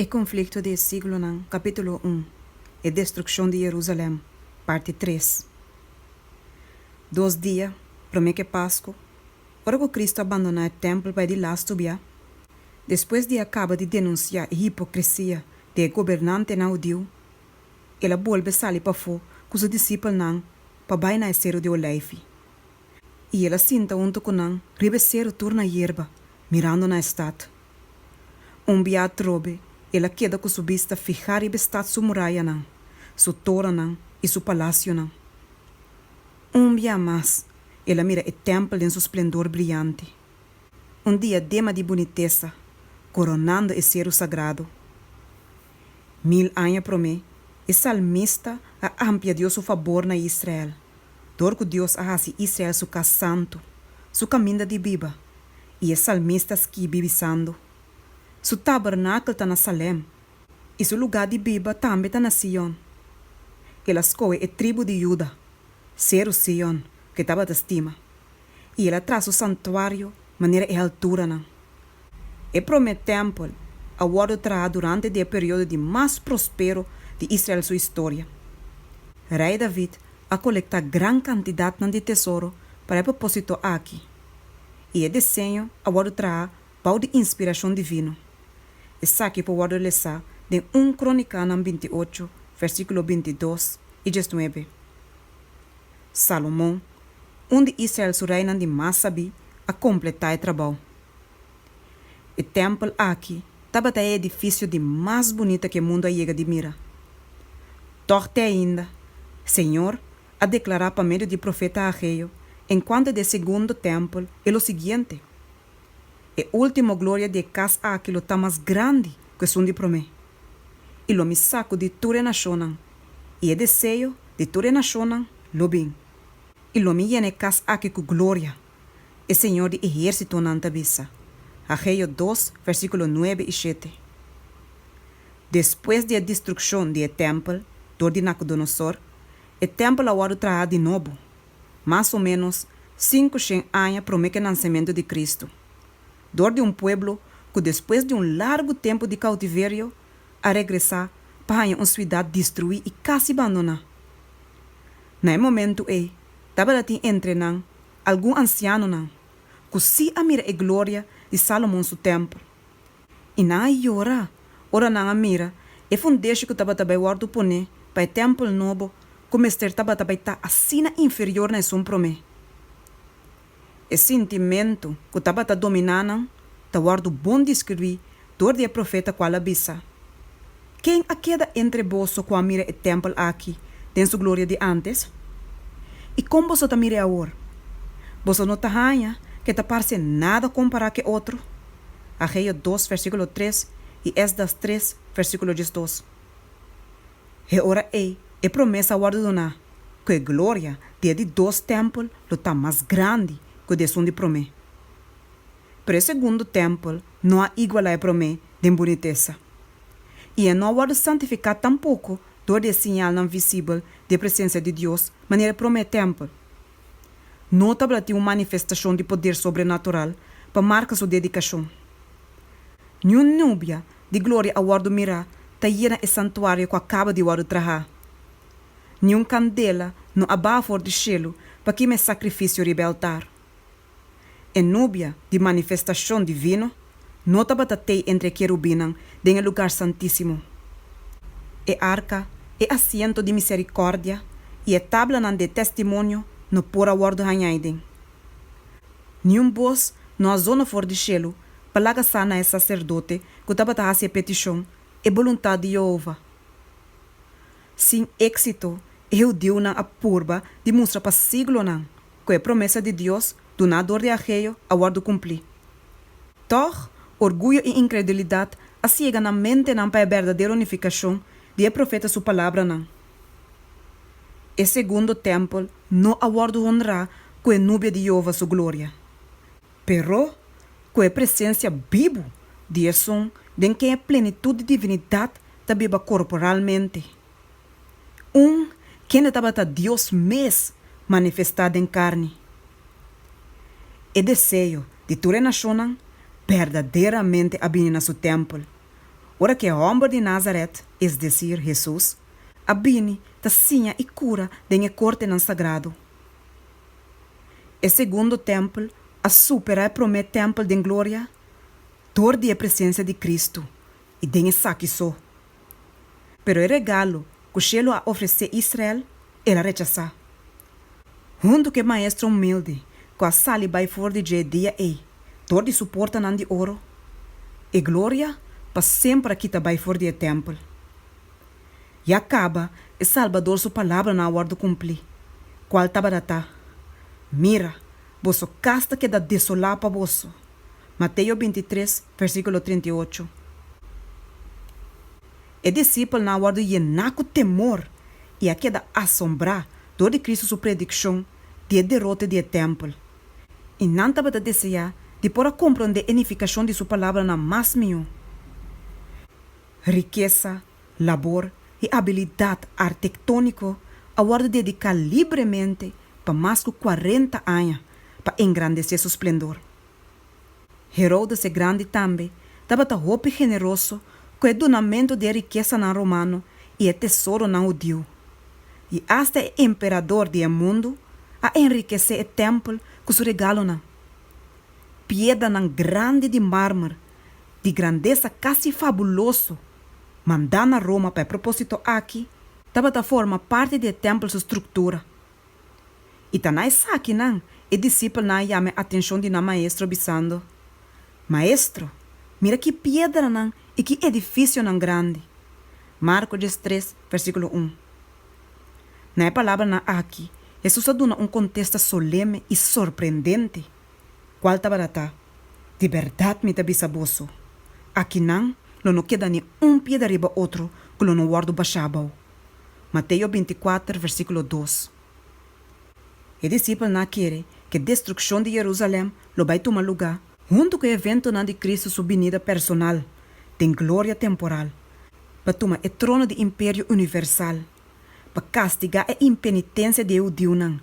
E konflikto di e siglonan, Kapítulo un, E destrukshon di Jerusalèm, Parti tres, Dos dia promé ku e Pasku, Ora ku Kristu a bandoná e tèmpel pa e di las stubiá, Despues di e a kaba di denunsiá e hipokrisia di e gobernantenan hudiu, el a bolbe sali pafó ku su disipelnan pa bai na e Seru di Oleifi, i el a sinta huntu ku nan riba e seru tur na yerba, mirando na e stat. Un bia atrobe, el a keda ku su bista fihá riba e stat su murayanan, su toranan i su palasionan. Un bia mas, el a mira e tèmpel den su splendor briante, un diadema di bunitesa koronando e seru sagrado. Mil aña promé, e salmista a amplia Dios su fabor na Israel, dor ku Dios a hasi Israel su kas santu, su kaminda di biba i e salmista skibi bisando, Su tabernakel ta na Salem, i su lugá di biba tambe ta na Sion. El a skohe e tribu di Juda, seru Sion, ku e tabata stima, i el a traha su santuario manera e halturanan. E promé tèmpel a wòrdu traha durante di e periodo di mas prospero di Israel su historia. Rei David a kolektá gran kantidatnan di tesoro pa e propósito aki. i e deseño a wòrdu traha bou di inspirashon divino. Esaki por wòrdu lesá den un Kronikánan binti ocho, vèrsíkulo binti dos i djes nuebe. Salomon, un di Israel su reinan di mas sabí, a kompletá e trabou. E tèmpel aki tabata e edifisio di mas bunita ku e mundu a yega di mira. Tòg te ainda, Señor, a deklará pa medio di profeta Hageo enkuanto di e segundo tèmpel e lo siguiente, E último gloria di e kas aki lo ta mas grandi ku esun di promé, i lo mi saku di tur e nashonnan, i e deseo di tur e nashonnan lo bin, i lo mi yena e kas aki ku gloria. E Señor di ehérsitonan ta bisa, Hageo dos, versíkulo nuebe i shete, Despues di e destrukshon di e tèmpel dor di Nakudonosor, e tèmpel a wòrdu traha di nobo, mas o ménos sinku shen aña promé ku e nansementu di Kristu, dor di un pueblo ku despues di un largu tempu di koutiverio a regresá pa haña un suidat destruí i kasi bandoná. Na e momentu ei, tabatin entre nan algun ansianonan ku sí a mira e gloria di Salomon su tèmpel, i nan a yora ora nan a mira e fundeshi ku tabata bai wòrdu poné pa e tèmpel nobo ku mester tabata bai ta asina inferior na esun promé. E sintimentu ku tabata dominá nan ta wòrdu bon diskribuí dor di e profeta ku al a bisa, Ken a keda entre boso ku a mira e tèmpel aki den su gloria di ántes? I kon boso ta mir'é awor? Boso no ta haña ku e ta parse nada kompará ku e otro? Hageo dos versíkulo tres i Esdras tres versíkulo diesdos. E ora ei e promes a wòrdu doná ku e gloria di e di dos tèmpel lo ta mas grandi ku di esun di promé. Pero e segundo tèmpel no a igualá e promé den bunitesa, i e no a wòrdu santifiká tampoko dor di e siñalnan visibel di e presensia di Dios manera e promé tèmpel. No tabata tin un manifestashon di poder sobrenatural pa marka su dedikashon. Niun nubia di gloria a wòrdu mirá ta yena e santuario ku a kaba di wòrdu trahá. Niun kandela no a baha for di shelu pa kima e sakrifisio riba e altar. E nubia di manifestashon di vino no tabata tei entre e kerubinnan den e lugar santísimo. E arka, e asiento di miserikòrdia i e tablanan di e testimonio no por a wòrdu hañai den. Niun bos no a zona for di shelu pa laga sa na e saserdote ku tabata hasi e petishon e boluntat di Yehova. Sin éksito, e hudiunan a purba di mustra pa siglonan cu e promesa di Dios duna door di Hageo a wordo cumpli. Tog, orguyo y incredulidad a ciega nan mentenan pa e berdadero nificacion di e profeta su palabranan. E segundo tempel no a wordo honra cu e nubia di Jehova su gloria, pero cu e presencia bibu di Esun den ken e plenitud di divinidad ta biba corporalmente. Un, kende tabata Dios mes manifestá den karni. E deseo di tur e nashonnan berdaderamente a bini na su tèmpel, ora ku e hòmber di Nazaret, es desir, Hesus, a bini ta siña i kura den e kortenan sagrado. E segundo tèmpel a superá e promé tèmpel den gloria dor di e presensia di Kristu, i den esaki so Pero e regalo ku shelu a ofresé Israel, el a rechasá. Huntu ku e maestro humilde ku a sali bai for di dje dia ei dor di su portanan di oro, e gloria pa semper a kita bai for di e tèmpel. Ya kaba e Salbador su palabranan a wòrdu kumplí, kual tabata ta, Mira, boso kas ta keda desolá pa boso. Mateo bintitres, versíkulo trenta i ocho, E disipelnan a wòrdu yená ku temor i a keda asombrá dor di Kristu su predikshon di e derote di e tèmpel, i nan tabata deseá di por a komprondé e nifikashon di su palabranan mas mihó. Rikesa, labor i abilidat artektóniko a wòrdu dediká libremente pa mas ku kuarenta aña. pa engrandecé su splendor. Herodes e Grandi tambe tabata hopi generoso cu e dunamento di e rikesanan romano i e tesoronan hudiu. I asta e emperador di e mundu a enrikesé e tèmpel cu su regalonan. Piedranan grandi di mármer di grandesa casi fabuloso mandá na Roma pa e propósito aki tabata forma parti di e tèmpel su structura. I ta na esakinan e disipelnan a yama e atenshon di nan Maestro bisando, Maestro, mira ki piedranan i ki edifisionan grandi! Marko djes tres, versíkulo un. Na e palabranan aki, Hesus a duna un kontesta soleme i sorprendente, kual tabata ta, Di bèrdat mi ta bisa boso, Akinan lo no keda ni un piedra riba otro ku lo no wòrdu bashá abou. Mateo bintikwater versíkulo dos. E disipelnan a kere ku e destrukshon di Yerusalèm lo bai tuma lugá huntu ku e eventonan di Kristu su binida personal den gloria temporal pa tuma e trono di imperio universal, pa kastigá e impenitensia di e hudiunan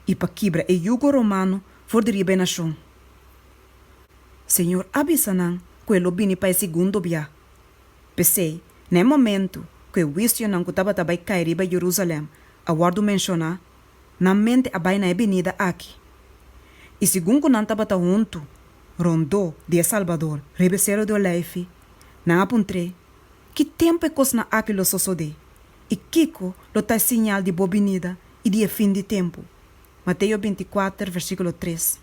i pa kibra e yugo romano for di riba e nashon. Señor a bisa nan ku e lo bini pa e segundo biaha. P'esei, na e momentu ku e huisionan ku tabata bai kai riba Jerusalèm a wòrdu menshoná, nan mente a bai na e binida aki. I segun ku nan tabata huntu rondó di e Salbador riba e Seru di Olèifi, nan a puntr'é, Ki tempu e kosnan aki lo sosodé, i kiko lo ta e siñal di bo binida i di e fin di tempu? Mateo bintikwater, versíkulo tres,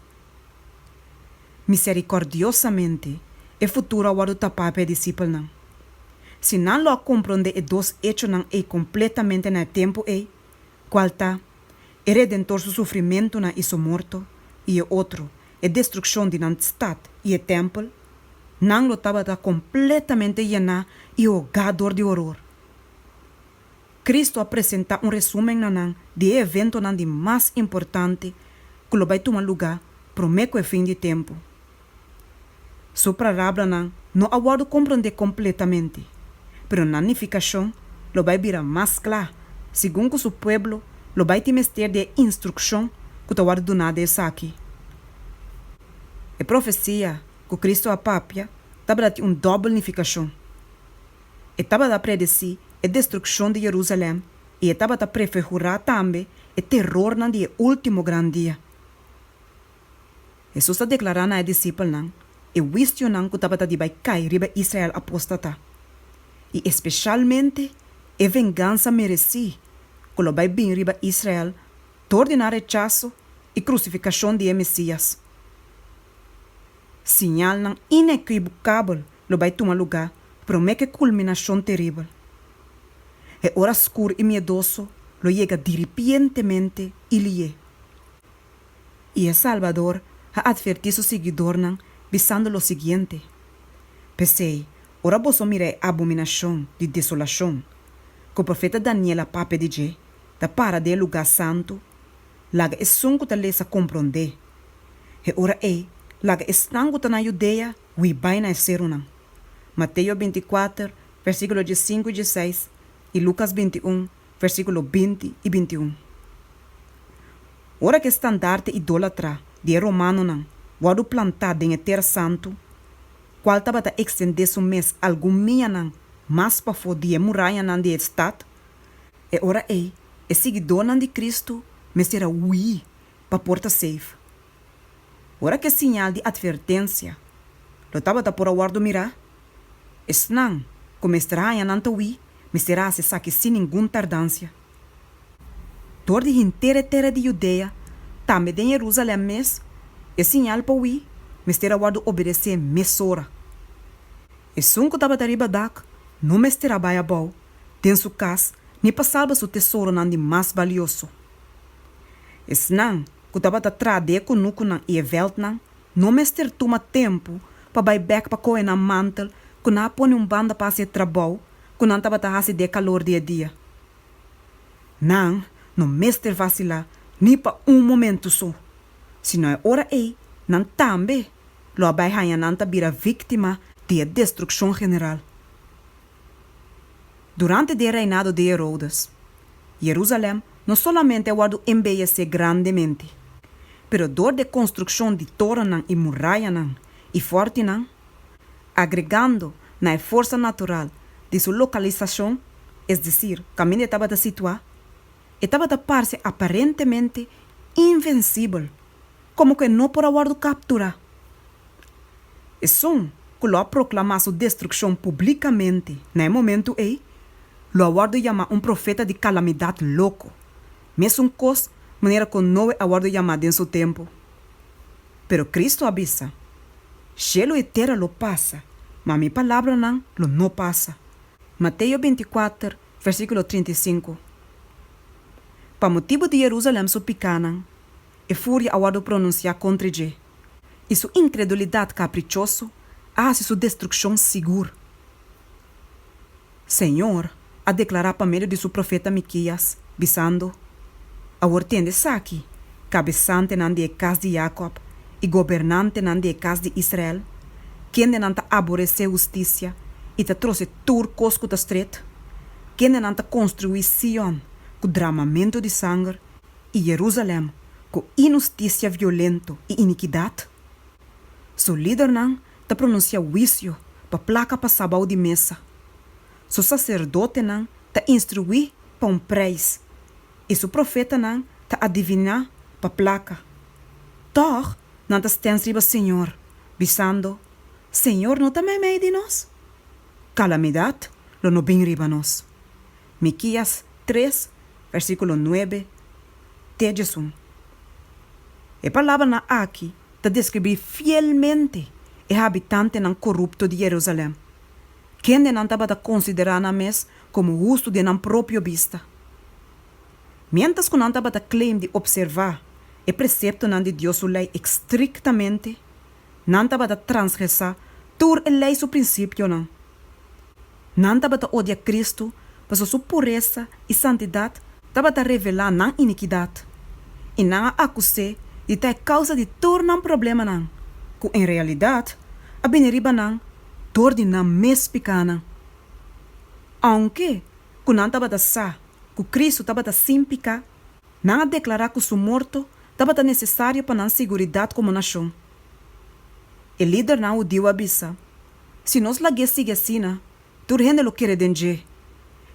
Miserikordiosamente e futuro a wòrdu tapá pa e disipelnan. Si nan lo a komprondé e dos echonan ei kompletamente na e tempu ei, kual ta, e Redentor su sufrimentunan i su morto, i e otro, e destrukshon di nan stat i e tèmpel, nan lo tabata kompletamente yená i hogá dor di horor. Cristo a presenta un resumen na nan di e eventonan di mas importante cu lo bay tuma lugar prome cu e fin di tempo. Su prarabranan no a wordo compronde completamente, pero nan nificacion lo bay bira mas cla segun cu su pueblo lo bay tin mester di e instruccion cu ta wordo duna di esaki. E profecia cu Cristo a papia tabatin un dobel nificacion. E tabata predesí e destrukshon di Jerusalèm i e tabata prefigurá tambe e terornan di e último gran dia. Hesus a deklará na e disipelnan e huisionan ku tabata di bai kai riba Israel apóstata, i espeshalmente e vengansa meresí ku lo bai bini riba Israel dor di nan rechaso i krusifikashon di e Mesías. Siñalnan inequivocabel lo bay tuma lugá promé cu e culminacion teribel. E ora scur y miedoso lo yega diripientemente y lié. Y e Salbador a adverti su siguidornan bisando lo siguiente, P'esey, ora boso mira e abominacion di desolacion cu profeta Daniel a papia di dje ta para den e lugá santu, laga esun cu ta lesa comprendé. E ora ei, laga e snan ku ta na Yudea hui bai na e serunan. Mateo binti kuater, versíkulo diesinku i dieseis, i Lukas binti un, versíkulo binti i binti un. Ora ku e standarte idólatra di e romanonan wòrdu plantá den e tera santu, kual tabata ekstendé su mes algun mianan mas pafó di e murayanan di e stat, e ora ei e siguidónan di Kristu mester a hui pa por ta safe. Ora ku e siñal di atvertensia lo tabata por a wòrdu mirá, esnan ku mester haña nan tawí mester hasi esaki sin ningun tardansia. Dor di henter e tera di Judea, tambe den Jerusalèm mes, e siñal pa wí mester a wòrdu obedesé mesora. Esun ku tabata riba dak no mester a bai abou den su kas ni pa salba su tesoronan di mas balioso. Esnan ku tabata tradé e kunukunan i e vèltnan no mester tuma tempu pa bai bèk pa kohe nan mantel ku nan a pone un banda pa hasi e trabou ku nan tabata hasi den e kalor di e dia. Nan no mester vasilá ni pa un momentu so, sino e ora ei nan tambe lo a bai haña nan ta bira víktima di e destrukshon general. Durante den reinado di Herodes, Jerusalem no solamente a wòrdu embeyesé grandemente, pero dor d'e konstrukshon di torennan i murayanan i fòrtinan, agregando na e forsa natural di su lokalisashon, es desir, kaminda e tabata situá, e tabata parse aparentemente invensibel. Komo ku e no por a wòrdu kapturá? Esun ku lo a proklamá su destrukshon publikamente na e momentu ei, lo a wòrdu yamá un profeta di kalamidat loko, mesun kos manera ku Noe a wòrdu yamá den su tempu. Pero Kristu a bisa, Shelu i tera lo pasa, ma mi palabranan lo no pasa. Mateo bintikwater versíkulo trinta i sinku Pa motibu di Jerusalèm su pikánan, E furia a wòrdu pronunsiá kontra dje, i su inkredulidat kaprichoso a hasi su destrukshon sigur. Señor a deklará pa medio di su profeta Mikías, bisando, Awor tende esaki, kabesantenan di e kas di Yakòb i gobernantenan di e kas di Israel, kendenan ta aboresé hustisia i ta trose tur kos ku ta stret, kendenan ta konstruí Sion ku dramamentu di sanger i Jerusalem ku inusticia violento i inikidat? Su lidernan ta pronunsia huisio pa plaka pasá bou di mesa, su saserdotenan ta instruí pa un preis i su profetanan ta adiviná pa plaka. Tòg nan ta stens riba Señor, bisando, Señor no ta meimei di nos? Kalamidat lo no bin riba nos. Mikias tres versíkulo nuebe te djesun. E palabranan aki ta deskribí fielmente e habitantenan korupto di Jerusalèm, kendenan tabata konsiderá nan mes komo hustu den nan propio bista. Miéntras ku nan tabata claim di opservá e preseptonan di Dios su Lei ekstriktamente, nan tabata transgresá tur e Lei su prinsipionan Nan tabata odia Kristu pasobra su puresa i santidat tabata revelá nan inikidat, i nan a akus'é di ta e kousa di tur nan problemanan, ku en realidat a bini riba nan dor di nan mes pikánan. Ounke ku nan tabata sa ku Kristu tabata sin piká, nan a deklará ku su morto tabata nesesario pa nan siguridat komo nashon. E lidernan hudiu a bisa, Si nos lag'é sigui asina, tur hende lo kere den dje,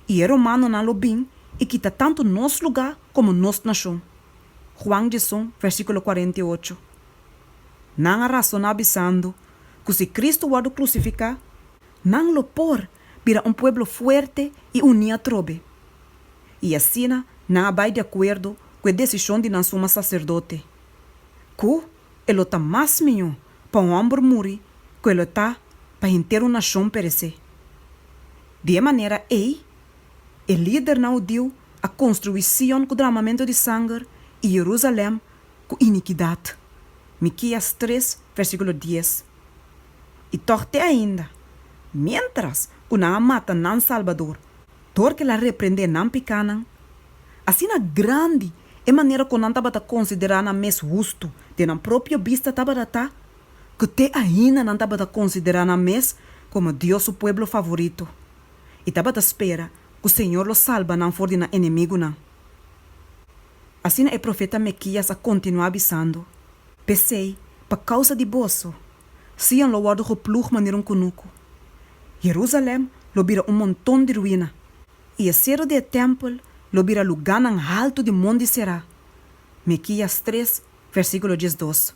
i e romanonan lo bin i kita tantu nos lugá komo nos nashon. Juan djeson, versíkulo kuarenta i ocho. Nan a rasoná bisando ku si Kristu wòrdu krusifiká, nan lo por bira un pueblo fuerte i uní atrobe, i asina nan a bai di akuerdo ku e desishon di nan suma saserdote, ku, e lo ta mas miñó pa un hòmber muri ku e lo ta pa henter un nashon peresé. Di e manera ei, e lidernan hudiu a konstruí Sion ku dràmamentu di sanger i Jerusalèm ku inikidat, Mikías tres vèrsíkulo dies. I tòg te ainda, miéntras ku nan a mata nan Salbador dor ku el a reprendé nan pikánan, asina grandi e manera ku nan tabata konsiderá nan mes hustu den nan propio bista tabata ta ku te ainda nan tabata konsiderá nan mes komo Dios su pueblo favorito i tabata spera ku Señor lo salba nan for di nan enemigunan. Asina e profeta Mekías a kontinuá bisando, P'esei, pa kousa di boso, Sion lo wòrdu gepluj manera un kunuku, Jerusalèm lo bira un monton di ruina I e sero di e tèmpel lo bira lugánan haltu di mondi será. Mikías tres, versíkulo diesdos.